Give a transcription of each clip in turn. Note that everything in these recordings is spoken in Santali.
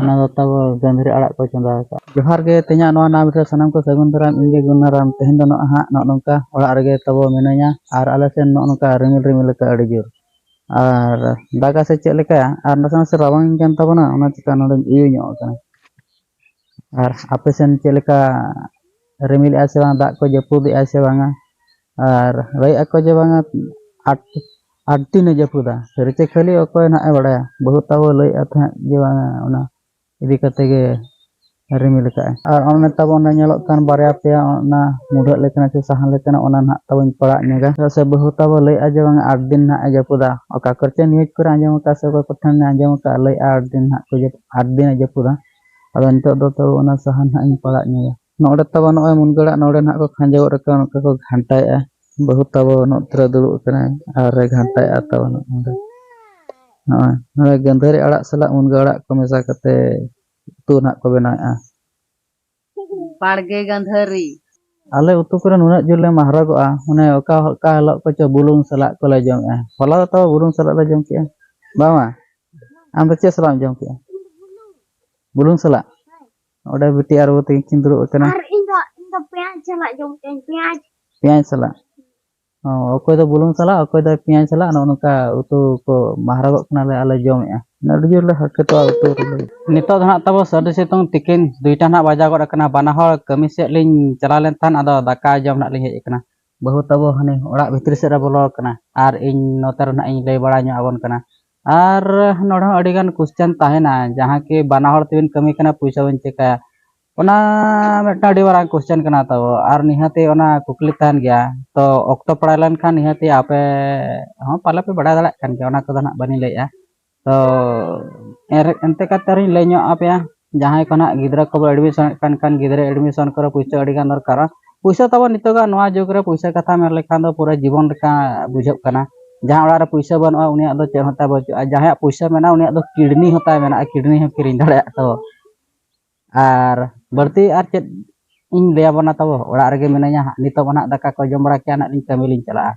ᱚᱱᱟ ᱫᱚ ᱛᱟᱵᱚ ᱜᱟᱺᱫᱷᱟᱹᱨᱤ ᱟᱲᱟᱜ ᱠᱚ ᱪᱚᱸᱫᱟ ᱟᱠᱟᱫᱼᱟ ᱡᱚᱦᱟᱨ ᱜᱮ ᱛᱮᱦᱮᱧᱟᱜ ᱱᱚᱣᱟ ᱱᱟᱣᱟ ᱵᱷᱤᱰᱤᱭᱳ ᱥᱟᱱᱟᱢ ᱠᱚ ᱥᱟᱹᱜᱩᱱ ᱫᱟᱨᱟᱢ ᱤᱧ ᱜᱮ ᱜᱩᱱᱱᱟ ᱨᱟᱢ ᱛᱮᱦᱮᱧ ᱫᱚ ᱱᱚᱜᱼᱚᱭ ᱦᱟᱸᱜ ᱱᱚᱜᱼᱚ ᱱᱚᱝᱠᱟ ᱚᱲᱟᱜ ᱨᱮᱜᱮ ᱛᱟᱵᱚ ᱢᱤᱱᱟᱹᱧᱟ ᱟᱨ ᱟᱞᱮ ᱥᱮᱱ ᱱᱚᱜᱼᱚ ᱱᱚᱝᱠᱟ ᱨᱤᱢᱤᱞ ᱨᱤᱢᱤᱞ ᱟᱠᱟᱫᱼᱟ ᱟᱹᱰᱤ ᱡᱳᱨ ᱟᱨ ᱫᱟᱜᱟ ᱥᱮ ᱪᱮᱫ ᱞᱮᱠᱟ ᱟᱨ ᱱᱟᱥᱮ ᱱᱟᱥᱮ ᱨᱟᱵᱟᱝ ᱤᱧ ᱠᱟᱱ ᱛᱟᱵᱚᱱᱟ ᱚᱱᱟ ᱪᱤᱠᱟ ᱱᱚᱰᱮᱧ ᱤᱭᱟᱹ ᱧᱚᱜ ᱟᱠᱟᱱᱟ ᱟᱨ ᱟᱯᱮ ᱥᱮᱱ ᱪᱮᱫ ᱞᱮᱠᱟ ᱨᱤᱢᱤᱞ ᱮᱜᱼᱟᱭ ᱥᱮ ᱵᱟᱝ ᱫᱟᱜ ᱠᱚ ᱡᱟᱹᱯᱩᱫ ᱮᱜᱼᱟᱭ ᱥᱮ ᱵᱟᱝᱟ ᱟᱨ ᱞᱟᱹᱭᱮᱫᱼᱟ ᱠᱚ ᱡᱮ ᱵᱟᱝᱟ ᱟᱴ ᱟᱨ ᱛᱤᱱᱮ ᱡᱟᱹᱯᱩᱫᱟ ᱥᱟᱹᱨᱤ ᱪᱮ ᱠᱷᱟᱹᱞᱤ ᱚᱠᱚᱭ ᱱᱟᱦᱟᱜ ᱮ ᱵᱟᱲᱟᱭᱟ ᱵᱟᱹᱦᱩ ᱛᱟᱵᱚ ᱞᱟᱹᱭᱮᱫᱼᱟ ᱛᱟᱦᱮᱸᱫ ᱡᱮ ᱵᱟᱝᱟ ᱚᱱᱟ ᱤᱫᱤ ᱠᱟᱛᱮ ᱜᱮ ᱨᱤᱢᱤᱞ ᱟᱠᱟᱫᱼᱟᱭ ᱟᱨ ᱚᱱᱮ ᱛᱟᱵᱚ ᱚᱱᱟ ᱧᱮᱞᱚᱜ ᱠᱟᱱ ᱵᱟᱨᱭᱟ ᱯᱮᱭᱟ ᱚᱱᱟ ᱢᱩᱰᱷᱟᱹᱜ ᱞᱮᱠᱟᱱᱟᱜ ᱥᱮ ᱥᱟᱦᱟᱱ ᱞᱮᱠᱟᱱᱟᱜ ᱚᱱᱟ ᱱᱟᱦᱟᱜ ᱛᱟᱵᱚᱧ ᱯᱟᱲᱟᱜ ᱧᱚᱜᱟ ᱪᱮᱫᱟᱜ ᱥᱮ ᱵᱟᱹᱦᱩ ᱛᱟᱵᱚ ᱞᱟᱹᱭᱮᱫᱼᱟ ᱡᱮ ᱵᱟᱝᱟ ᱟᱴ ᱫᱤᱱ ᱱᱟᱦᱟᱜ ᱮ ᱡᱟᱹᱯᱩᱫᱟ ᱚᱠᱟ ᱠᱚᱨᱮ ᱪᱮ ᱱᱤᱭᱩᱡᱽ ᱠᱚᱨᱮ ᱟᱸᱡᱚᱢ ᱟᱠᱟᱫᱼᱟ ᱥᱮ ᱚᱠᱚᱭ ᱠᱚᱴᱷᱮᱱ ᱟᱸᱡᱚᱢ ᱟᱠᱟᱫᱼᱟ ᱞᱟᱹᱭᱮᱫᱼᱟ ᱟᱴ ᱫᱤᱱ ᱱᱟᱦᱟᱜ ᱠᱚ ᱟᱴ ᱫᱤᱱᱮ ᱡᱟᱹᱯᱩᱫᱟ ᱟᱫᱚ ᱱᱤᱛᱚᱜ ᱫᱚ ᱛᱚ ᱚᱱᱟ ᱥᱟᱦᱟᱱ ᱱᱟᱦᱟᱜ ᱤᱧ ᱯᱟᱲᱟᱜ ᱧᱚᱜᱟ ᱱᱚᱰᱮ ᱛᱟᱵᱚ ᱱᱚᱜᱼᱚᱭ ᱢᱩᱱᱜᱟᱹ ᱟᱲᱟᱜ ᱱᱚᱰᱮ ᱱᱟᱦᱟᱜ ᱠᱚ ᱠᱷᱟᱸᱡᱚ ᱜᱚᱫ ᱟᱠᱟᱫᱟ ᱱᱚᱝᱠᱟ ᱠᱚ ᱜᱷᱟᱱᱴᱟᱭᱮᱫᱼᱟ ᱵᱟᱹᱦᱩ ᱛᱟᱵᱚ ᱱᱚᱛᱮ ᱨᱮ ᱫᱩᱲᱩᱵ ᱟᱠᱟᱱᱟᱭ ᱟᱨ ᱨᱮ ᱜᱷᱟᱱᱴᱟᱭᱮᱫᱼᱟ ᱛᱟᱵᱚ ᱱᱚᱰᱮ ᱱᱚᱜᱼᱚᱭ ᱱᱚᱰᱮ ᱜᱟᱹᱱᱫᱷᱟᱹᱨᱤ ᱟᱲᱟᱜ ᱥᱟᱞᱟᱜ ᱢᱩᱱᱜᱟᱹ ᱟᱲᱟᱜ ᱠᱚ ᱢᱮᱥᱟ ᱠᱟᱛᱮ ᱩᱛᱩ ᱱᱟᱦᱟᱜ ᱠᱚ ᱵᱮᱱᱟᱣᱮᱫᱼᱟ ᱵᱟᱲᱜᱮ ᱜᱟᱹᱱᱫᱷᱟᱹᱨᱤ ᱟᱞᱮ ᱩᱛᱩ ᱠᱚᱨᱮ ᱱᱩᱱᱟᱹᱜ ᱡᱳᱨ ᱞᱮ ᱢᱟᱦᱨᱟᱜᱚᱜᱼᱟ ᱢᱟᱱᱮ ᱚᱠᱟ ᱚᱠᱟ ᱦᱤᱞᱳᱜ ᱠᱚᱪᱚ ᱵᱩᱞᱩᱝ ᱥᱟᱞᱟᱜ ᱠᱚᱞᱮ ᱡᱚᱢᱮᱫᱼᱟ ᱦᱚᱞᱟ ᱫᱚ ᱛᱟᱵᱚ ᱵᱩᱞᱩᱝ ᱥᱟᱞᱟᱜ ᱞᱮ ᱡᱚᱢ ᱠᱮᱫᱼᱟ ᱵᱟᱝᱟ ᱟᱢ ᱫᱚ ᱪᱮᱫ ᱥᱟᱞᱟᱜ ᱮᱢ ᱡᱚᱢ ᱠᱮᱫᱼᱟ ᱵᱩᱞᱩᱝ ᱥᱟᱞᱟᱜ ᱚᱸᱰᱮ ᱵᱤᱴᱤ ᱟᱨ ᱵᱟᱹᱵᱩ ᱛᱟᱹᱠᱤᱱ ᱠᱤᱱ ᱫᱩᱲᱩᱵ ᱟᱠᱟᱱᱟ ᱟᱨ ᱤᱧ ᱫᱚ ᱤᱧ ᱫᱚ ᱯᱮᱸᱭᱟᱡᱽ ᱥᱟᱞᱟᱜ ᱡᱚᱢ ᱠᱟᱹᱧ ᱯᱮᱸᱭᱟᱡᱽ ᱯᱮᱸᱭᱟᱡᱽ ᱥᱟᱞᱟᱜ ᱚ ᱚᱠᱚᱭ ᱫᱚ ᱵᱩᱞᱩᱝ ᱥᱟᱞᱟᱜ ᱚᱠᱚᱭ ᱫᱚ ᱯᱮᱸᱭᱟᱡᱽ ᱥᱟᱞᱟᱜ ᱱᱚᱜᱼᱚ ᱱᱚᱝᱠᱟ ᱩᱛᱩ ᱠᱚ ᱢᱟᱦᱨᱟᱜᱚᱜ ᱠᱟᱱᱟᱞᱮ ᱟᱞᱮ ᱡᱚᱢᱮᱜᱼᱟ ᱟᱹᱰᱤ ᱡᱳᱨ ᱞᱮ ᱦᱟᱨᱠᱮᱛᱚᱜᱼᱟ ᱩᱛᱩ ᱨᱮᱞᱮ ᱱᱤᱛᱚᱜ ᱫᱚ ᱦᱟᱸᱜ ᱛᱟᱵᱚ ᱥᱟᱹᱨᱫᱤ ᱥᱤᱛᱩᱝ ᱛᱤᱠᱤᱱ ᱫᱩᱭᱴᱟ ᱦᱟᱸᱜ ᱵᱟᱡᱟᱣ ᱜᱚᱫ ᱟᱠᱟᱱᱟ ᱵᱟᱱᱟ ᱦᱚᱲ ᱠᱟᱹᱢᱤ ᱥᱮᱫ ᱞᱤᱧ ᱪᱟᱞᱟᱣ ᱞᱮᱱ ᱛᱟᱦᱮᱸᱫ ᱟᱫᱚ ᱫᱟᱠᱟ ᱡᱚᱢ ᱦᱟᱸᱜ ᱞᱤᱧ ᱦᱮᱡ ᱟᱠᱟᱱᱟ ᱵᱟᱹᱦᱩ ᱛᱟᱵᱚ ᱦᱟᱱᱮ ᱚᱲᱟᱜ ᱵᱷᱤᱛᱨᱤ ᱥᱮᱫ ᱨᱮ ᱵᱚᱞᱚ ᱟᱠᱟᱱᱟ ᱟᱨ ᱤᱧ ᱱᱚᱛᱮ ᱨᱮ ᱦᱟᱸᱜ ᱤᱧ ᱞᱟᱹᱭ ᱵᱟᱲᱟ ᱧᱚᱜ ᱟᱵᱚᱱ ᱠᱟᱱᱟ ᱟᱨ ᱱᱚᱰᱮ ᱦᱚᱸ ᱟᱹᱰᱤ ᱜᱟᱱ ᱠᱩᱥᱪᱟᱱ ᱛᱟᱦᱮᱱᱟ ᱡᱟᱦᱟᱸ ᱠᱤ ᱵᱟᱱᱟ ᱦᱚᱲ ᱛᱮᱵᱤᱱ ᱠᱟᱹᱢᱤ ᱠᱟᱱᱟ ᱯᱚᱭᱥᱟ ᱵᱤᱱ ᱪᱮᱠᱟᱭᱟ ᱚᱱᱟ ᱢᱤᱫᱴᱟᱝ ᱟᱹᱰᱤ ᱢᱟᱨᱟᱝ ᱠᱩᱥᱪᱟᱱ ᱠᱟᱱᱟ ᱛᱚ ᱟᱨ ᱱᱤᱦᱟᱹᱛ ᱚᱱᱟ ᱠᱩᱠᱞᱤ ᱛᱟᱦᱮᱱ ᱜᱮᱭᱟ ᱛᱚ ᱚᱠᱛᱚ ᱯᱟᱲᱟᱣ ᱞᱮᱱᱠᱷᱟᱱ ᱱᱤᱦᱟᱹᱛ ᱟᱯᱮ ᱦᱚᱸ ᱯᱟᱞᱮ ᱯᱮ ᱵᱟᱰᱟᱭ ᱫᱟᱲᱮᱭᱟᱜ ᱠᱟᱱ ᱜᱮᱭᱟ ᱚᱱᱟ ᱠᱚᱫᱚ ᱱᱟᱦᱟᱜ ᱵᱟᱹᱞᱤᱧ ᱞᱟᱹᱭᱮᱜᱼᱟ ᱛᱚ ᱮᱱᱛᱮ ᱠᱟᱛᱮᱫ ᱨᱮᱦᱚᱸᱧ ᱞᱟᱹᱭ ᱧᱚᱜ ᱟᱯᱮᱭᱟ ᱡᱟᱦᱟᱸᱭ ᱠᱚ ᱱᱟᱦᱟᱜ ᱜᱤᱫᱽᱨᱟᱹ ᱠᱚᱵᱚ ᱮᱰᱢᱤᱥᱚᱱᱮᱫ ᱠᱟᱱ ᱠᱷᱟᱱ ᱜᱤᱫᱽᱨᱟᱹ ᱮᱰᱢᱤᱥᱚᱱ ᱠᱚᱨᱮ ᱯᱩᱭᱥᱟᱹ ᱟᱹᱰᱤ ᱜᱟᱱ ᱫᱚᱨᱠᱟᱨᱚᱜᱼᱟ ᱯᱩᱭᱥᱟᱹ ᱛᱟᱵᱚ ᱱᱤᱛᱚᱜᱟᱜ ᱱᱚᱣᱟ ᱡᱩᱜᱽ ᱨᱮ ᱯᱩᱭᱥᱟᱹ ᱠᱟᱛᱷᱟ ᱢᱮᱱ ᱞᱮᱠᱷᱟᱱ ᱫᱚ ᱯᱩᱨᱟᱹ ᱡᱤᱵᱚᱱ ᱞᱮᱠᱟ ᱵᱩᱡᱷᱟᱹᱜ ᱠᱟᱱᱟ ᱡᱟᱦᱟᱸᱭ ᱚᱲᱟᱜ ᱨᱮ ᱯᱩᱭᱥᱟᱹ ᱵᱟᱹᱱᱩᱜᱼᱟ ᱩᱱᱤᱭᱟᱜ ᱫᱚ ᱪᱮᱫ ᱦᱚᱸ ᱛᱟᱭ ᱵᱟᱹᱪᱩᱜᱼᱟ ᱟᱨ ᱡᱟᱦᱟᱸᱭᱟᱜ ᱯᱩᱭᱥᱟᱹ ᱢᱮᱱᱟᱜᱼᱟ ᱩᱱᱤᱭᱟᱜ ᱫᱚ ᱠᱤᱰᱱᱤ ᱦᱚᱸ ᱛᱟᱭ ᱢᱮᱱᱟᱜᱼᱟ ᱠᱤᱰᱱᱤ ᱦᱚᱸ ᱠᱤᱨᱤᱧ ᱫᱟᱲᱮᱭᱟᱜ ᱛᱟᱵᱚ ᱟᱨ ᱵᱟᱹᱲᱛᱤ ᱟᱨ ᱪᱮᱫ ᱤᱧ ᱞᱟᱹᱭᱟᱵᱚᱱᱟ ᱛᱟᱵᱚ ᱚᱲᱟᱜ ᱨᱮᱜᱮ ᱢᱤᱱᱟᱹᱧᱟ ᱦᱟᱸᱜ ᱱᱤᱛᱚᱜ ᱢᱟ ᱱᱟᱦᱟᱜ ᱫᱟᱠᱟ ᱠᱚ ᱡᱚᱢ ᱵᱟᱲᱟ ᱠᱮᱜᱼᱟ ᱱᱟᱦᱟᱜ ᱞᱤᱧ ᱠᱟᱹᱢᱤ ᱞᱤᱧ ᱪᱟᱞᱟᱜᱼᱟ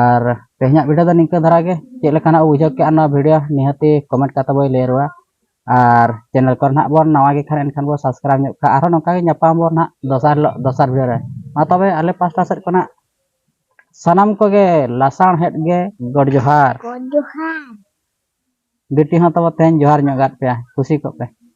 ᱟᱨ ᱛᱮᱦᱮᱧᱟᱜ ᱵᱷᱤᱰᱤᱭᱳ ᱫᱚ ᱱᱤᱝᱠᱟᱹ ᱫᱷᱟᱨᱟ ᱜᱮ ᱪᱮᱫ ᱞᱮᱠᱟᱱᱟᱜ ᱵᱩᱡᱷᱟᱹᱣ ᱠᱮᱜᱼᱟ ᱱᱚᱣᱟ ᱵᱷᱤᱰᱤᱭᱳ ᱱᱤᱦᱟᱹᱛᱤ ᱠᱚᱢᱮᱱᱴ ᱠᱟᱛᱮ ᱵᱚᱱ ᱞᱟᱹᱭ ᱨᱩᱣᱟᱹᱲᱟ ᱟᱨ ᱪᱮᱱᱮᱞ ᱠᱚᱨᱮ ᱱᱟᱦᱟᱜ ᱵᱚᱱ ᱱᱟᱣᱟ ᱜᱮ ᱠᱷᱟᱱ ᱮᱱᱠᱷᱟᱱ ᱵᱚᱱ ᱥᱟᱵᱥᱠᱨᱟᱭᱤᱵᱽ ᱧᱚᱜ ᱠᱟᱜᱼᱟ ᱟᱨᱦᱚᱸ ᱱᱚᱝᱠᱟ ᱜᱮ ᱧᱟᱯᱟᱢ ᱟᱵᱚᱱ ᱱᱟᱦᱟᱜ ᱫᱚᱥᱟᱨ ᱦᱤᱞᱳᱜ ᱫᱚᱥᱟᱨ ᱵᱷᱤᱰᱤᱭᱳ ᱨᱮ ᱢᱟ ᱛᱚᱵᱮ ᱟᱞᱮ ᱯᱟᱥᱴᱟ ᱥᱮᱫ ᱠᱷᱚᱱᱟᱜ ᱥᱟᱱᱟᱢ ᱠᱚᱜᱮ ᱞᱟᱥᱟᱬᱦᱮᱫ ᱜᱮ ᱜᱚᱰ ᱡᱚᱦᱟᱨ ᱜᱚᱰ ᱡᱚᱦᱟᱨ ᱵᱤᱴᱤ ᱦᱚᱸ ᱛᱟᱵᱚ ᱛᱮᱦᱮᱧ ᱡᱚᱦᱟᱨ ᱧᱚᱜ ᱟᱫ ᱯᱮᱭᱟ ᱠᱩᱥᱤ ᱠᱚᱜ ᱯᱮ